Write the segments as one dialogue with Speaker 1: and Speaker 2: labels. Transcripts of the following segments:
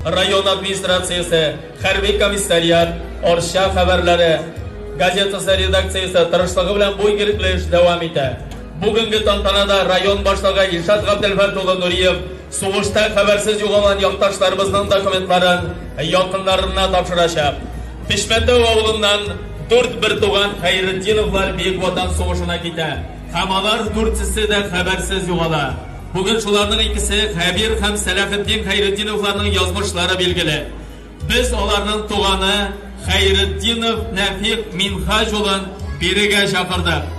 Speaker 1: Район администрациясе, хәрби комиссариат, Арча хәбәрләре газетасы редакциясе тырышлыгы белән бу игелекле эш дәвам итә. Бүгенге тантанада район башлыгы Илшат Габделфәрт улы Нуриев сугышта хәбәрсез югалган якташларыбызның документларын якыннарына тапшырачак. Пешмәтәү авылыннан дүрт бертуган Хәйретдиновлар Бөек Ватан сугышына китә. Һәм алар дүртесе дә хәбәрсез югала. Бүген шуларның икесе, Хәбир һәм Сәләхетдин Хәйретдиновларның язмышлары билгеле. Без аларның туганы Хәйретдинов Нәфыйк Минһаҗ улын бирегә чакырдык.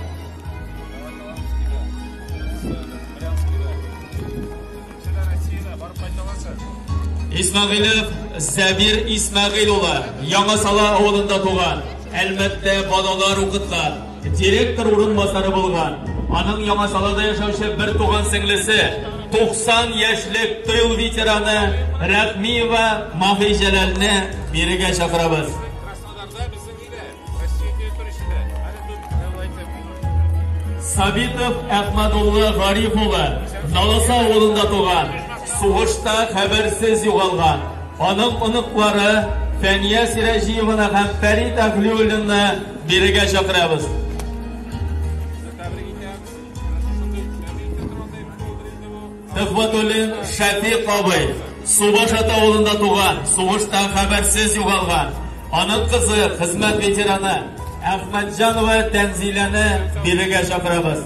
Speaker 1: Исмәгыйлев Сәбир Исмәгыйль улы, Яңа Сала авылында туган, Әлмәттә балалар укыткан. Директор урынбасары булган, аның Яңасалада яшәүче бертуган сеңлесе, 90 яшьлек тыл ветераны Рәхмиева Маһи Җәләлне бирегә чакырабыз. Сабитов Әхмәдулла Гариф улы, Наласа авылында туган, сугышта хәбәрсез югалган. Аның оныклары Фәния Сираҗиеваны һәм Фәрит Әхлиуллинны Бирегә чакырабыз. Төхвәтуллин Шәфикъ абый Субашат авылында туган, сугышта хәбәрсез югалган. Аның кызы, хезмәт ветераны Әхмәтҗанова Тәнзиләне бирегә чакырабыз.